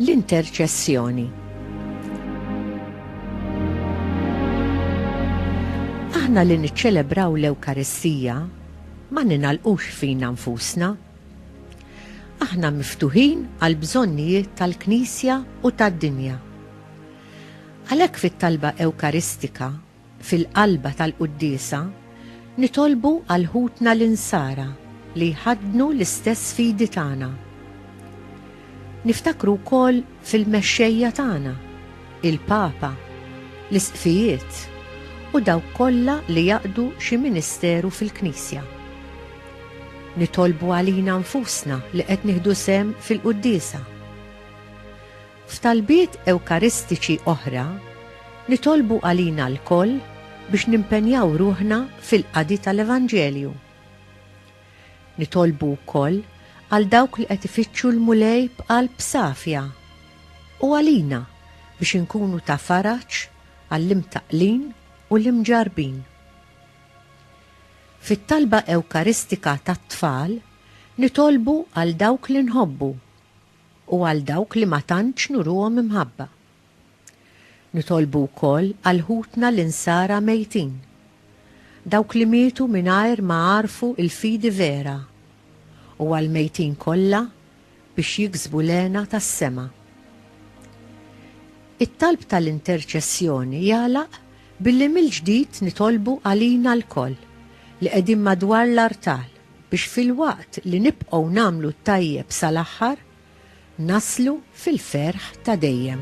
l-interċessjoni. Aħna li niċċelebraw l-Ewkaristija ma ninalqux fina nfusna. Aħna miftuħin għal bżonnijiet tal-Knisja u tad-dinja. Għalhekk fit-talba Ewkaristika, fil-qalba tal-Quddiesa, nitolbu għal ħutna l-Insara li jħaddnu l-istess fidi tagħna. Niftakru wkoll fil-mexxejja tagħna, il-Papa, l-Isqfijiet u dawk kollha li jaqdu xi ministeru fil-Knisja. Nitolbu għalina nfusna li qed nieħdu sehem fil-Quddiesa. F'talbiet Ewkaristiċi oħra, nitolbu għalina lkoll biex nimpenjaw ruħna fil-qadi tal-Evanġelju. Nitolbu wkoll għal dawk li qed ifittxu l-Mulej b'qalb safja, u għalina biex inkunu ta' faraġ għall-imtaqqlin u l-imġarrbin. Fit-talba Ewkaristika tat-tfal, nitolbu għal dawk li nħobbu u għal dawk li ma tantx nuruhom imħabba. Nitolbu wkoll għal ħutna l-Insara mejtin, dawk li mietu mingħajr ma għarfu l-fidi vera, u għall-mejtin kollha biex jiksbu l-hena tas-sema. It-talb tal-interċessjoni jagħlaq billi mill-ġdid nitolbu għalina lkoll li qegħdin madwar l-artal, biex filwaqt li nibqgħu nagħmlu t-tajjeb sal-aħħar, naslu fil-ferħ ta' dejjem.